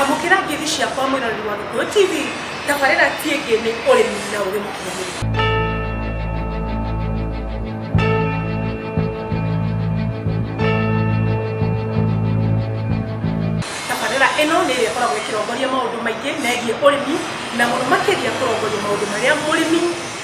amũkĩra ngeithi ciakwa mwĩroreri wa gĩkũyũ tv tabarĩra tiĩngĩ nĩ ũrĩmi na ũrĩ mũkinyanĩru tabarĩra ĩno nĩ ĩrĩa ĩkoragwo ĩkĩrongoria maũndũ maingĩ megiĩ ũrĩmi na mũno makĩria kũrongoria maũndũ marĩa mũrĩmi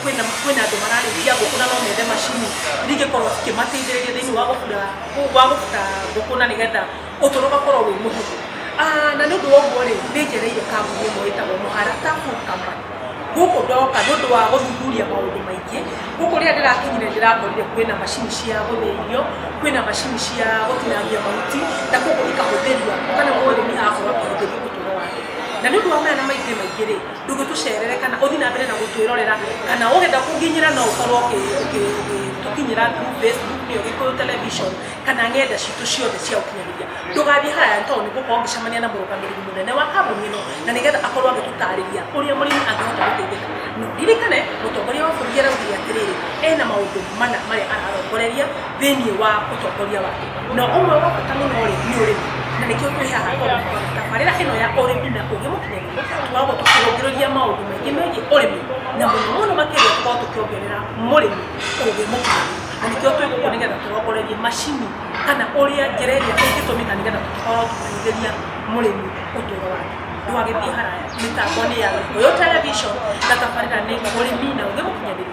kwĩna kwĩna andũ mararĩithia ngũkũ na no methe macini iria ingĩkorwo cikĩmateithĩrĩria thĩinĩ wa gũbura wa gũbuta ngũkũ na nĩgetha ũtũro ũgakorwo wĩ mũhũthũ Ah, na nĩ ũndũ wa ũguo rĩ nĩ njereire kambuni ĩmwe ĩtagwo mũharata Food Company gũkũ ndoka nĩ ũndũ wa gũthuthuria maũndũ maingĩ gũkũ rĩrĩa ndĩrakinyire ndĩrakorire kwĩna macini cia gũthĩa irio kwĩna macini cia gũtinangia mahuti na koguo ikahũthĩria kana mũrĩmi agakorwo akĩhũthĩria ũtũro wake na nĩ ũndũ wa maya na maingĩ maingĩ rĩ ndũngĩtũcerere kana ũthiĩ na mbere na gũtwĩrorera kana ũgenda kũnginyĩra no ũkorwo ũkĩtũkinyĩra through facebook nĩyo gĩkũyũ television kana ng'enda citũ ciothe cia ũkinyanĩria ndũgathiĩ haraya nĩ tondũ nĩ ngũkorwo ngĩcemania na mũrũgamĩrĩri mũnene wa kambuni ĩno na nĩgetha akorwo agĩtũtarĩria ũrĩa mũrĩmi angĩhota gũteithĩka no ndirikane mũtongoria wa bũrũri araugire atĩrĩrĩ ena maũndũ mana marĩa ararongoreria thĩinĩ wa ũtongoria wake na ũmwe wa bata mũno rĩ nĩ ũrĩmi na nĩkĩo twĩ haha tondũ tabarĩra ĩno ya ũrĩmi na ũgĩ wa gũtũcũngĩrĩria maũndũ maingĩ megiĩ ũrĩmi na mũno mũno makĩria tũkorwo tũkĩongerera mũrĩmi ũgĩ mũkinyanĩru na nĩkĩo twĩ gũkũ nĩgetha tũrongorerie macini kana ũrĩa njĩra ĩrĩa ĩngĩtũmĩka nĩgetha tũkorwo tũkĩhũthĩria mũrĩmi ũtũũro wake ndwagĩthiĩ haraya mĩtambo nĩ ya gĩkũyũ television na tabarĩra nĩ ũrĩmi na ũgĩ mũkinyanĩru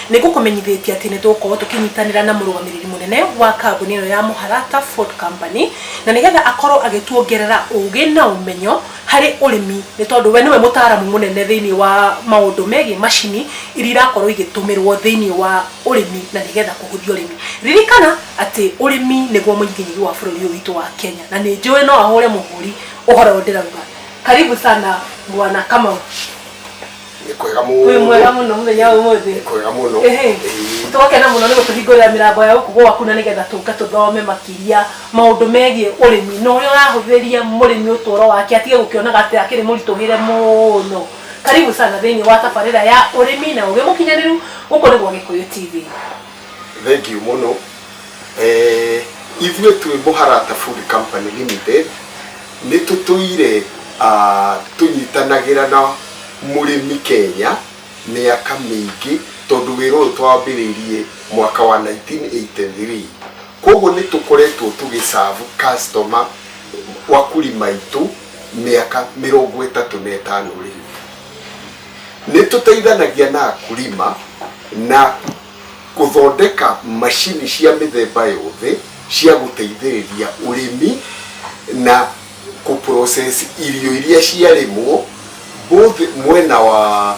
Nĩ ngũkũmenyithĩtie atĩ nĩ tũgũkorũo tũkĩnyitanĩra na mũrũgamĩrĩri mũnene wa kambuni ĩno ya Mũharata Food Company, na nĩgetha akorũo agĩtuongerera ũũgĩ na ũmenyo harĩ ũrĩmi, nĩ tondũ we nĩwe mũtaaramu mũnene thĩinĩ wa maũndũ megiĩ macini iria irakorũo igĩtũmĩrũo thĩinĩ wa ũrĩmi na nĩgetha kũhũthia ũrĩmi. Ririkana atĩ ũrĩmi nĩguo mũnyiginyigi wa bũrũri ũyũ witũ wa Kenya, na nĩ njũĩ no ahũre mũhũri ũhoro ũyũ ndĩrauga. Karibu sana Bwana Kamau. nĩ kwega mũno wĩ mwega mũno mũthenya wa ũmũthĩ nĩ kwega mũno Ehe. Ĩĩ. tũgakena mũno nĩ gũtũhingũrĩra mĩrango ya gũkũ gwaku na nĩgetha tũke tũthome makĩria maũndũ megiĩ ũrĩmi na ũrĩa ũrahũthĩria mũrĩmi ũtũũro wake atige gũkĩonaga atĩ akĩrĩ mũritũhĩre mũno karibu sana thĩinĩ wa tabarĩra ya ũrĩmi na ũgĩ mũkinyanĩru gũkũ nĩguo gĩkũyũ tv Thengiũ mũno. Ithuĩ twĩ Mũharata Food Company Limited, nĩ tũtũire tũnyitanagĩra na mũrĩmi Kenya mĩaka mĩingĩ tondũ wĩra ũyũ twambĩrĩirie mwaka wa nineteen eighty three. Kwoguo nĩ tũkoretwo tũgĩ serve customer, wakulima, aitũ mĩaka mĩrongo ĩtatũ na ĩtano rĩu. nĩ tũteithanagia na akulima na gũthondeka macini cia mĩthemba yothe cia gũteithĩrĩria ũrĩmi na kũ process irio iria ciarĩmwo both mwena wa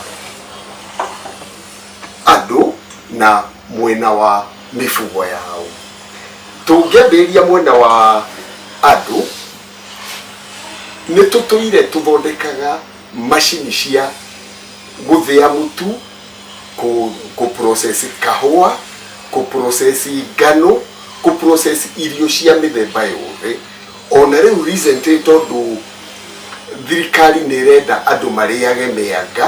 andũ na mwena wa mĩbugo yao. Tũngĩambĩrĩria mwena wa andũ, nĩ tũtũire tũthondekaga Macini cia gũthĩa mũtu, kũ kũ process kahũa, kũ process ngano, kũ process irio cia mĩthemba yothe. Ona rĩu recently tondũ thirikari nĩ ĩrenda andũ marĩage mĩanga,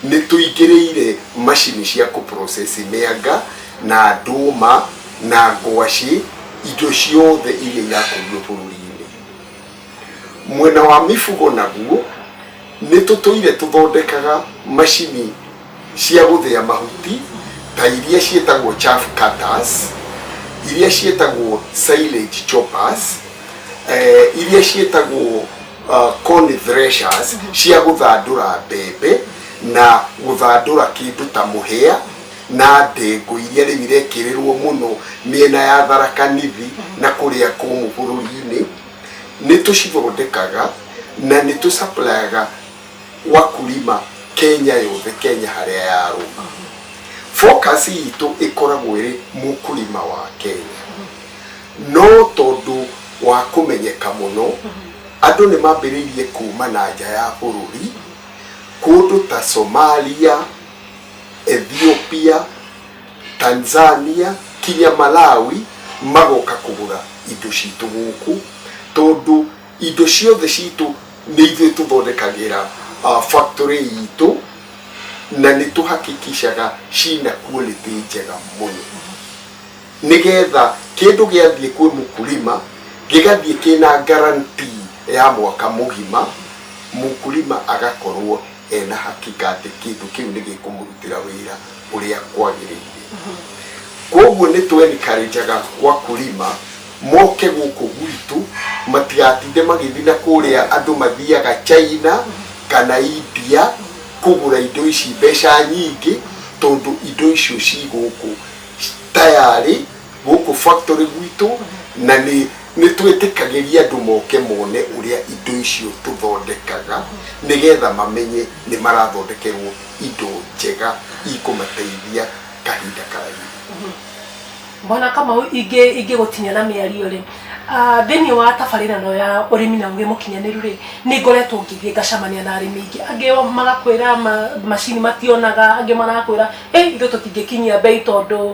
nĩ tũingĩrĩire macini cia kũ process mĩanga, na ndũma, na ngwacĩ, indo ciothe iria irakũrio bũrũri-inĩ. Mwena wa mĩbugo naguo, nĩ tũtũire tũthondekaga macini cia gũthĩa mahuti ta iria ciĩtagwo chaff cutters, iria ciĩtagwo silage choppers, iria ciĩtagwo corn threshers cia gũthandũra mbembe na gũthandũra kĩndũ ta mũhĩa na ndengũ iria rĩu irekĩrĩrwo mũno mĩena ya Tharaka Nithi na kũrĩa kũmũ bũrũri-inĩ. nĩ tũcithondekaga na nĩ tũ supplyaga wakulima Kenya yothe, Kenya harĩa yarũma. Focus itũ ĩkoragwo ĩrĩ mũkulima wa Kenya. No tondũ wa kũmenyeka mũno, andũ nĩ mambĩrĩirie kuma na nja ya bũrũri, kũndũ ta Somalia, Ethiopia, Tanzania kinya Malawi magoka kũgũra indo citũ gũkũ tondũ indo ciothe citũ nĩ ithuĩ tũthondekagĩra factory itũ na nĩ tũhakikicaga cina quality njega mũno nĩgetha kĩndũ gĩathiĩ kwĩ mũkulima gĩgathiĩ kĩna guarantee ya mwaka mũgima mũkulima agakorwo ena hakika atĩ kĩndũ kĩu nĩ gĩkũmũrutĩra wĩra. ũrĩa kwagĩrĩire. Kwoguo nĩ twenikarenjaga wakulima moke gũkũ gwitũ matigatinde magĩthiĩ na kũrĩa andũ mathiaga China kana India kũgũra indo ici mbeca nyingĩ tondũ indo icio ci gũkũ tayarĩ gũkũ factory gwitũ na nĩ nĩ twĩtĩkagĩria andũ moke mone ũrĩa indo icio tũthondekaga nĩgetha mamenye nĩ marathondekerwo indo njega ikũmateithia kahinda karaihu mwana kamau ingĩ ingĩ gũtinia na mĩario rĩ ah, thĩinĩ wa tabarĩra no ya ũrĩmi na ũgĩ mũkinyanĩru rĩ nĩ ngoretwo ngĩthiĩ ngacamania na arĩmi aingĩ angĩ magakwĩra ma- macini mationaga angĩ marakwĩra "Ĩ, ithuĩ tũtingĩkinyia mbei tondũ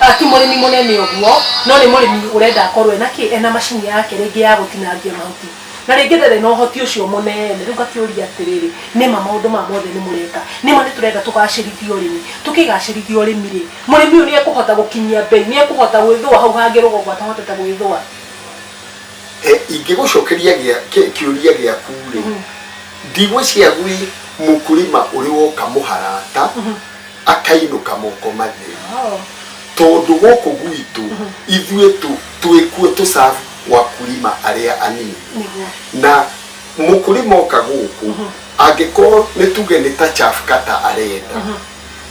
Ah, ti mũrĩmi mũnene ũguo no nĩ mũrĩmi ũrenda akorwo ena kĩ ena macini yake rĩngĩ ya gũtinangia mahuti na rĩngĩ ndarĩ na ũhoti ũcio mũnene rĩu ngakĩũria atĩrĩrĩ nĩma maũndũ maya mothe nĩ mũreka nĩma nĩ tũrenda tũgacĩrithie ũrĩmi tũkĩgacĩrithia ũrĩmi rĩ mũrĩmi ũyũ nĩ ekũhota gũkinyia mbei nĩ ekũhota gwĩthũa hau hangĩ rũgongo atahotete gwĩthũa Eh, ingĩgũcokeria gĩa- kĩ- kĩũria gĩaku rĩ ndigwĩciria gwĩ mũkũrĩma ũrĩ woka mũharata akainũka moko matheri Oh. tondũ gũkũ gwitũ ithuĩ tũ- twĩ kuo tũcabu wakulima arĩa anini Nĩguo. na mũkulima oka gũkũ angĩkorwo nĩ tuge nĩ ta chafkata arenda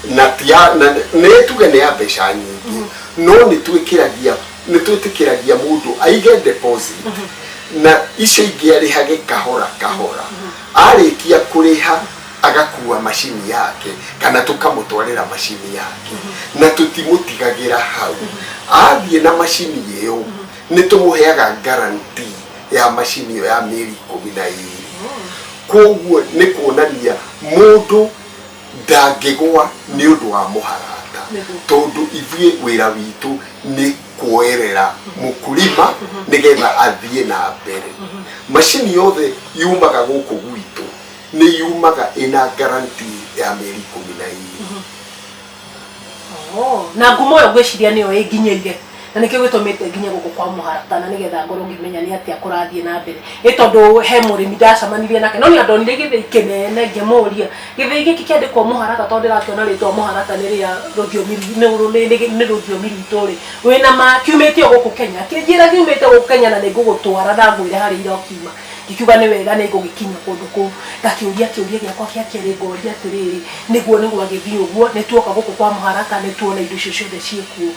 na tia- na- nĩ tuge nĩ ya mbeca nyingĩ no nĩ twĩkĩragia nĩ twĩtĩkĩragia mũndũ aige deposit na icio ingĩ arĩhage kahora kahora arĩkia kũrĩha agakua macini yake kana tũkamũtwarĩra macini yake na tũtimũtigagĩra hau athiĩ na macini ĩyo nĩ tũmũheaga garanti ya macini ĩyo ya mĩeri ikũmi na ĩrĩ koguo nĩ kuonania mũndũ ndangĩgwa nĩ ũndũ wa mũharata tondũ ithuĩ wĩra witũ nĩ kuoerera mũkulima nĩgetha athiĩ na mbere macini yothe yumaga gũkũ gwitũ nĩ yumaga ĩna garanti ya mĩeri ikũmi na ĩrĩ Oh, na ngumo ĩyo ngwĩciria nĩyo ĩnginyĩire na nĩkĩo gĩtũmĩte nginye gũkũ kwa mũharatana nĩgetha ngorwo ngĩmenya nĩ atĩa kũrathiĩ na mbere nĩ tondũ he mũrĩmi ndacamanirie nake no nĩ ndonire gĩthĩi kĩnene ngĩmũria gĩthĩi gĩkĩ kĩandĩkwo mũharata tondũ ndĩrakĩona rĩtwa mũharata nĩ rĩa rũthiomi ru- nĩ rũ- nĩ- nĩ- nĩ rũthiomi rwitũ rĩ wĩna ma kiumĩte o gũkũ kenya kĩnjĩra kiumĩte gũkũ kenya na nĩ ngũgũtwara na ngwĩre harĩa ira ũkiuma ngikiuga nĩ wega nĩ ngũgĩkinya kũndũ kũu ngakĩũria kĩũria gĩakwa kĩa kerĩ ngoria atĩrĩrĩ nĩguo nĩ gwagĩthiĩ ũguo nĩ tuoka gũkũ kwa mũharaka nĩ tuona indo icio ciothe ciĩkuo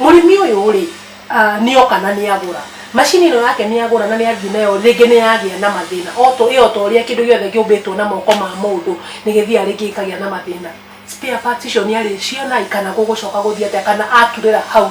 mũrĩmi ũyũ rĩ ah, nĩ oka na nĩ agũra macini ĩno yake nĩ agũra na nĩ athiĩ nayo rĩngĩ nĩ yagĩa na mathĩna o to ĩyo ta ũrĩa kĩndũ gĩothe kĩũmbĩtwo na moko ma mũndũ nĩ gĩthiaga rĩngĩ gĩkagĩa na mathĩna spare parts icio nĩ arĩciona kana gũgũcoka gũthiĩ atĩa kana aturĩra hau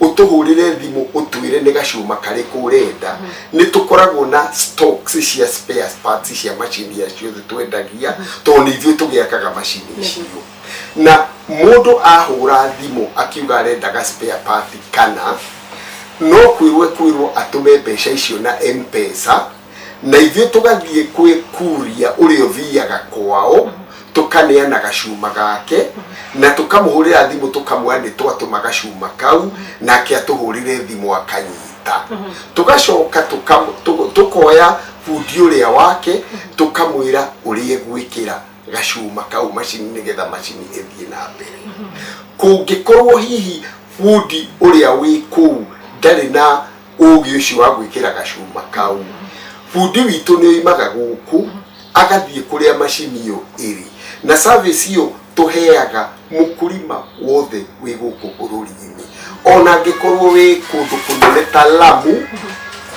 ũtũhũrĩre thimũ ũtwĩre nĩ gacuma karĩkũ ũrenda nĩ tũkoragwo na stocks cia spare parts cia macini ya ciothe twendagia tondũ nĩ ithuĩ tũgĩakaga macini icio na mũndũ ahũra thimũ akiuga arenda ga spare part kana no kwĩrwo ekwĩrwo atũme mbeca icio na mpesa na ithuĩ tũgathiĩ kwĩ kuria ũrĩa ũthiaga kwao tũkaneana gacuma gake na tũkamũhũrĩra thimũ tũkamwĩra nĩ twatũma gacuma kau nake atũhũrĩre thimũ akanyita tũgacoka tũka- tũ- tũkoya bundi ũrĩa wake tũkamwĩra ũrĩa egwĩkĩra gacuma kau macini nĩgetha macini ĩthiĩ na mbere kũngĩkorwo hihi bundi ũrĩa wĩ kũu ndarĩ na ũgĩ ũcio wa gwĩkĩra gacuma kau bundi witũ nĩ oimaga gũkũ agathiĩ kũrĩa macini ĩyo ĩrĩ na service ĩyo tũheaga mũkũrima wothe wĩ gũkũ bũrũri-inĩ ona angĩkorwo wĩ kũndũ kũnene ta lamu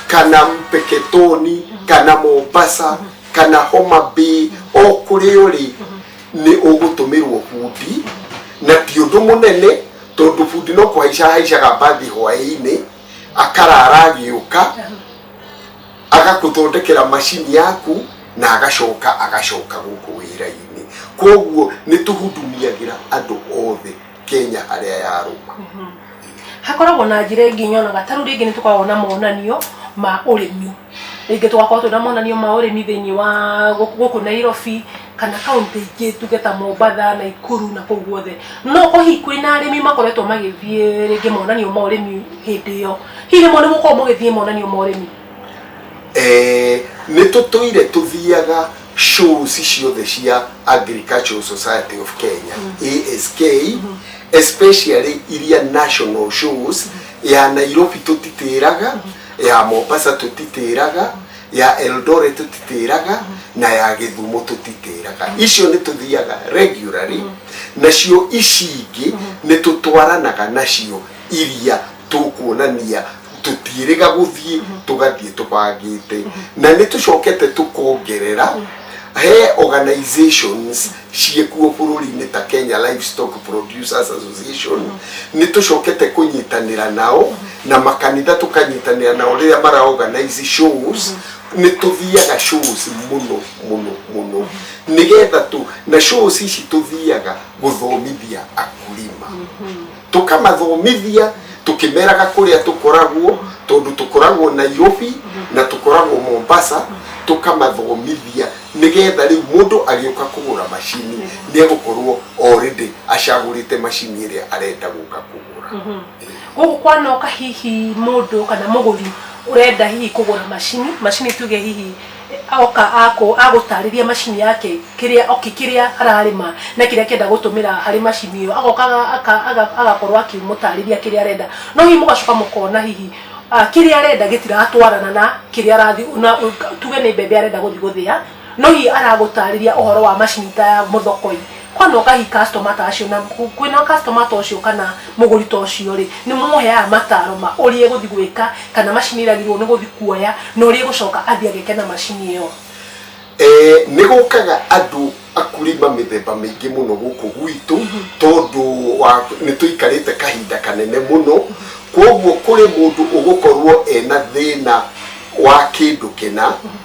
kana mpeketoni kana mombasa kana homa bay o kũrĩa ũrĩ nĩ ũgũtũmĩrwo bundi na ti ũndũ mũnene tondũ bundi no kũhaica ahaicaga mbathi hwaĩ-inĩ akarara agĩũka agakũthondekera macini yaku na agacoka agacoka gũkũ wĩra-inĩ koguo nĩ tũhundumiagĩra andũ othe kenya harĩa yarũma hakoragwo na njĩra ĩngĩ nyonaga ta rĩu rĩngĩ nĩ tũkoragwo na monanio ma ũrĩmi rĩngĩ tũgakorwo twĩna monanio ma ũrĩmi thĩinĩ wa gũkũ gũkũ nairobi kana kaunti ingĩ tuge ta mombatha naikuru na kũu guothe no ũkorwo hihi kwĩna arĩmi makoretwo magĩthiĩ rĩngĩ monanio ma ũrĩmi hĩndĩ ĩyo hihi rĩmwe nĩ mũkorwo mũgĩthiĩ monanio ma ũrĩmi Eh, nĩ tũtũire tũthiaga shows ciothe cia agricultural society of kenya ask especially iria national shows ya nairobi tũtitĩraga ya mombasa tũtitĩraga ya eldore tũtitĩraga na ya gĩthumo tũtitĩraga icio nĩ tũthiaga regularly nacio ici ingĩ nĩ tũtwaranaga nacio iria tũkuonania tũtiĩrĩga gũthiĩ tũgathiĩ tũbangĩte na nĩ tũcokete tũkongerera he organizations ciĩkuo bũrũri-inĩ ta kenya livestock producers association nĩ tũcokete kũnyitanĩra nao na makanitha tũkanyitanĩra nao rĩrĩa mara organize shows nĩ tũthiaga shows mũno mũno mũno nĩgetha tũ na shows ici tũthiaga gũthomithia akulima tũkamathomithia tũkĩmeraga kũrĩa tũkoragwo tondũ tũkoragwo nairobi na tũkoragwo mombasa tũkamathomithia nĩgetha rĩu mũndũ agĩũka kũgũra macini nĩ egũkorwo already acagũrĩte macini ĩrĩa arenda gũka kũgũra gũkũ kwanoka hihi mũndũ kana mũgũri ũrenda hihi kũgũra macini macini tuge hihi oka akũ agũtarĩria macini yake kĩrĩa oki kĩrĩa ararĩma na kĩrĩa kĩenda gũtũmĩra harĩ macini ĩyo agoka aka- aga- agakorwo akĩmũtarĩria kĩrĩa arenda no hihi mũgacoka mũkona hihi ah, kĩrĩa arenda gĩtiratwarana na kĩrĩa arathi na tuge nĩ mbembe arenda gũthi gũthĩa no hihi aragũtarĩria ũhoro wa macini ta ya mũthokoi Kwona ũkahi customer ta acio na kwĩna customer ta ũcio kana mũgũri ta ũcio rĩ, nĩ mũmũheaga mataro ma ũrĩa egũthi gwĩka kana macini ĩrĩa agĩrĩirwo nĩ gũthi kuoya na ũrĩa egũcoka athi ageke na macini ĩyo? Ee, nĩ gũkaga andũ akulima mĩthemba mĩingĩ mũno gũkũ gwitũ tondũ wa nĩ tũikarĩte kahinda kanene mũno, kwoguo kũrĩ mũndũ ũgũkorwo ena thĩna wa kĩndũ kĩna,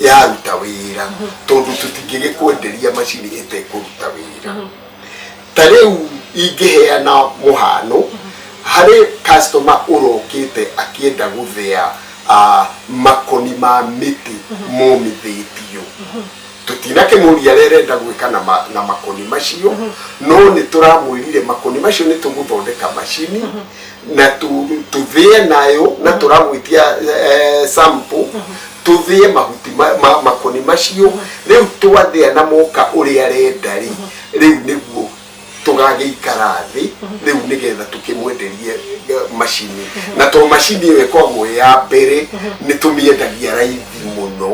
yaruta wĩra tondũ tũtingĩgĩkwenderia macini ĩtekũruta wĩra ta rĩu ingĩheana mũhano harĩ customer ũrokĩte akĩenda gũthĩa ah, makoni ma mĩtĩ momithĩtio tũtinakĩmũria rĩa renda gwĩka na, ma, na makoni macio no nĩ tũramwĩrire makoni macio nĩ tũgũthondeka macini na tu- tuthie nayo na turagwitia eh, sample tuthie mahuti ma- ma- makoni macio riu twathia na moka uria arenda ri riu niguo tugagĩikara thĩ rĩu nĩgetha tũkĩmwenderie eh, macini na to macini ĩyo ĩkoragwo ĩ ya mbere nĩ tũmĩendagia raithi mũno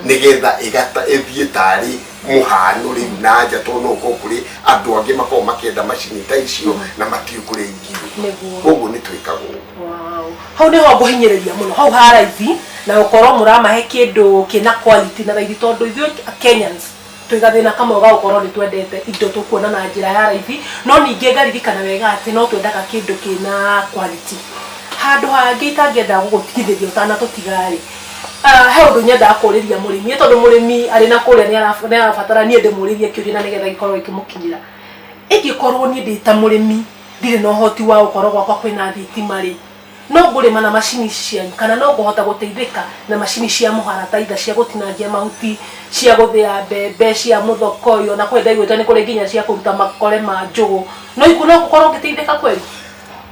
nĩgetha ĩgata- ĩthiĩ tarĩ mũhanũ rĩu na nja tondũ no ũkorwo kũrĩ andũ angĩ makorwo makĩenda macini ta icio na matiũ kũrĩa ingĩũka Nĩguo. koguo nĩ twĩkaga ũguo Wow. hau nĩho ngũhinyĩrĩria mũno hau ha raithi na gũkorwo mũramahe kĩndũ kĩna quality na raithi tondũ ithuĩ kenyans twĩ gathĩna kamwe ga gũkorwo nĩ twendete indo tũkuona na njĩra ya raithi no ningĩ ngaririkana wega atĩ no twendaga kĩndũ kĩna quality handũ hangĩ itangĩenda gũgũtigithĩria ũtanatũtiga-rĩ Ah, he undu nyendaga kuriria murimi tondu murimi ari na kuria ni ara- ni arabatara nie ndimuririe kiuria na nigetha gikorwo ikimukinyira ingikorwo nie ndi ta murimi ndire na uhoti wa gukorwo gwakwa kwina thitima ri no ngurima na macini ici cianyu kana no nguhota guteithika na macini cia muharataitha cia gutinangia mahuti cia guthia mbembe cia muthokoyo na kwe ndaiguite ni kuri nginya cia kuruta makore ma njugu no iku no ngukorwo ngiteithika kweli